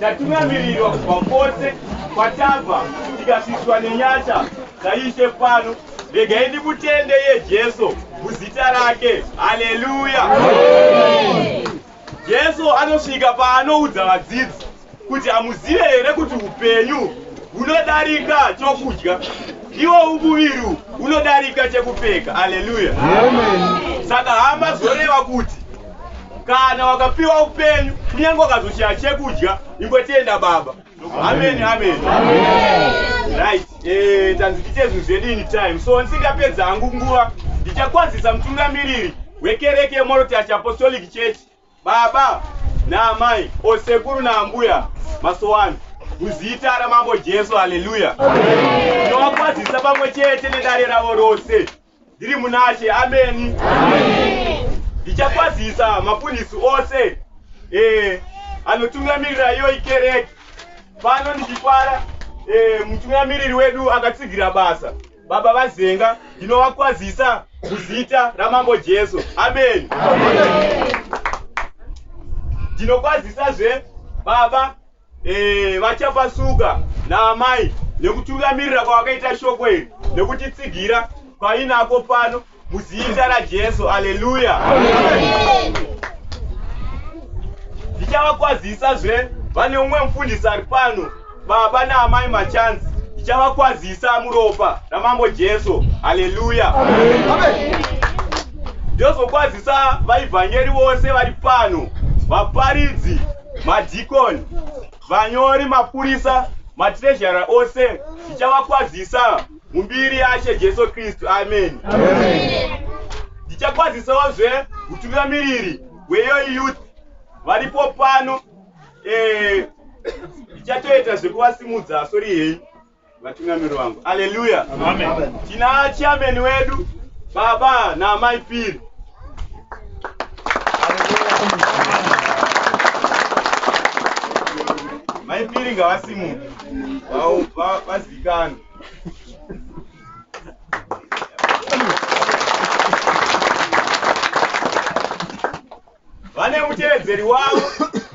Tatunamirirwa kubva kwose kwatabva tikasvitswa nenyasha dzaIshe pano. Regai ndimutende iye Jesu muzita rake. Haleluya! Jesu anosvika paanoudza vadzidzi kuti hamuzive here kuti upenyu hunodarika chokudya iwo umuviri unodarika chekupfeka. Haleluya! Saka hama zvoreva kuti kana wakapiwa upenyu kunyange wakazoshaya chekudya ingotenda baba amen amen right eh tanzi tiite zvinhu zvedu in time so ndisingapedza hangu nguva ndichakwazisa mutungamiriri wekereke yemorotash apostolic church baba naamai osekuru naambuya masowani muzita ramambo jesu haleluya tinovakwazisa pamwe chete nedare ravo rose Ndiri munaShe, ameni. Ndichakwazisa mapurisi ose eh, anotungamirira iyoyi kereke pano ndichifara eh, mutungamiriri wedu akatsigira basa baba vazenga ndinovakwazisa muzita ramambo jesu ameni ndinokwazisazve baba Eh, vachapasuka naamai nekutungamirira kwavakaita shoko iri nekutitsigira painako pano muzita rajesu aleluya ndichavakwazisa zve vane umwe mufundisi ari pano baba naamai machanzi ndichavakwazisa muropa ramambo jesu aleluya ndozokwazisa vaivhangeri vose vari pano vaparidzi madhikoni, vanyori, mapurisa, matirezhara ose ndichavakwazisa mumbiri yaShe Jesu Kristu. Ameni. Ndichakwazisawo zve mutungamiriri weYoy Youth varipo pano, eh, ndichatoita zvekuvasimudza, sorry henyu. vatungamiri vangu aleluya tina chiameni wedu baba naamai piri mai piri ngavasimuke vazikanwe vane mutevedzeri wavo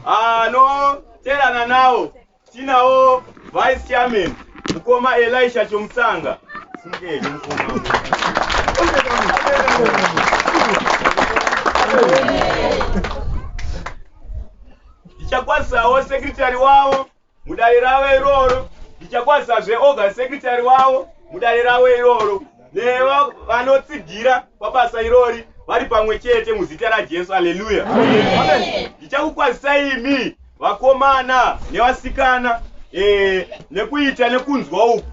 anoteerana nawo Tinawo Vice Chairman mukoma Elisha Chomusanga. Simukei mukoma. Ndichakwasawo secretary wavo mudare ravo iroro. Ndichakwasazve organ secretary wavo mudare ravo iroro. nevanotsigira pabasa irori vari pamwe chete muzita rajesu aleluya ndichakukwazisai imi vakomana nevasikana e, nekuita nekunzwa uku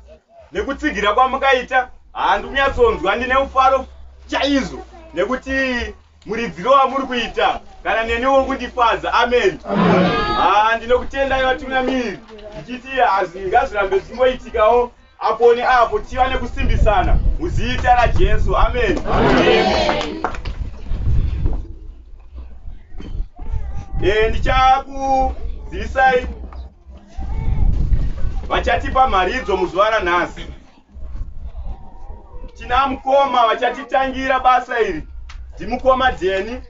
nekutsigira kwamakaita handi kunyatsonzwa ndine mufaro chaizvo nekuti muridziro wamuri kuita kana neni wokundifadza amen ah, ndinokutendai vatungamiri ndichiti hazvingazirambe zvichingoitikawo Apo neapo tiva nekusimbisana muzita raJesu. Ameni. Eh, ndichakuzivisai vachatipa mharidzo muzuva ranhasi. Tina mukoma vachatitangira basa iri ndimukoma Deni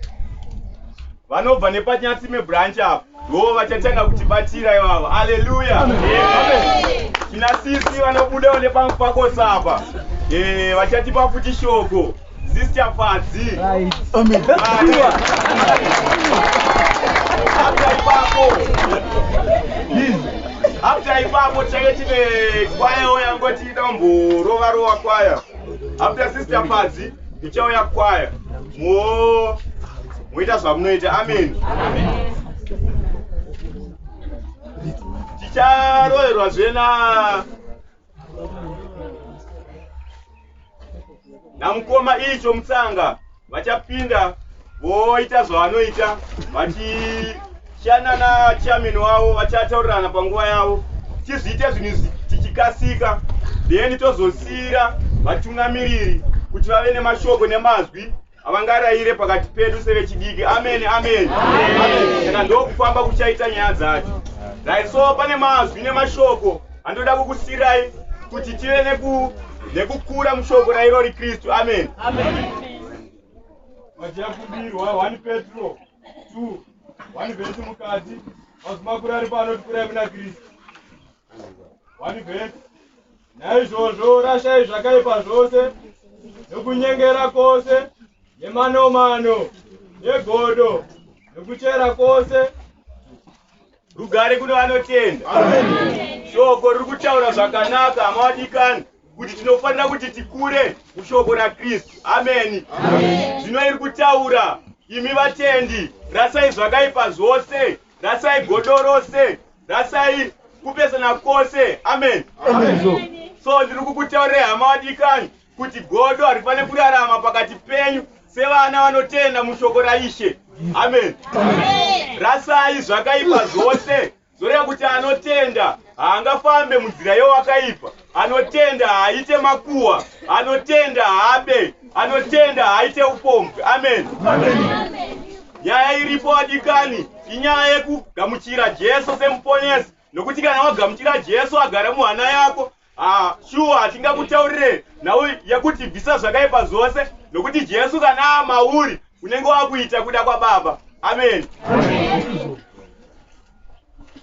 vanobva nepaNyatsime branch apo. Ndiwo vachatanga kutibatira ivavo. Haleluya. Tina sisi vanobudawo nepamwe pako sapa. Eh, vachatipa futi shoko. Sister Fadzi. Amen. After ipapo. After ipapo change tine kwaya oya ngoti itamborova rova kwaya. After Sister Fadzi, ichauya kwaya. Mo moita zvamunoita amen ticharoerwa zvena namukoma icho mutsanga vachapinda voita zvavanoita vachishanana chamin wavo vachataurirana panguva yavo tizviite zvinhu izvi tichikasika then tozosiira vatungamiriri kuti vave nemashoko nemazwi Havangarayire pakati pedu sevechidiki. Amen, amen. Saka ndokufamba kuchaita nyaya dzacho. Right, so pane mazwi nemashoko andoda kukusirai kuti tive neku nekukura mushoko rairo riKristu. Amen. Amen. Machiyakumbirwa 1 Petro 2 1 vhesi mukati mazwi makuru ari pano tikurai muna Kristu. naizvozvo rashai zvakaipa zvose nokunyengera kwose nemanomano negodo nokuchera kwose rugare kuno vanotenda shoko riri kutaura zvakanaka amawadikani kuti tinofanira kuti tikure mushoko rakristu ameni zvino iri kutaura imi vatendi rasai zvakaipa zvose Rasai godo rose. Rasai kupesana kwose. Amen. Amen. So ndiri kukutaurira hama wadikani kuti godo harifanire kurarama pakati penyu sevana vanotenda mushoko raishe. Amen. Amen. Rasai zvakaipa zvose. Zoreva kuti anotenda haangafambe munzira yewakaipa. Anotenda haaite makuwa, anotenda haabe, anotenda haaite upombwe. Amen. Nyaya iripo adikani, inyaya yekugamuchira Jesu semuponesi, nokuti kana wagamuchira Jesu agara muhana yako ah, shuwa hatingakutaurire nhau yekuti bvisa zvakaipa zvose, nokuti Jesu kana amauri unenge wakuita kuda kwaBaba. Amen.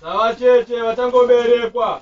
Savacheche vachangoberekwa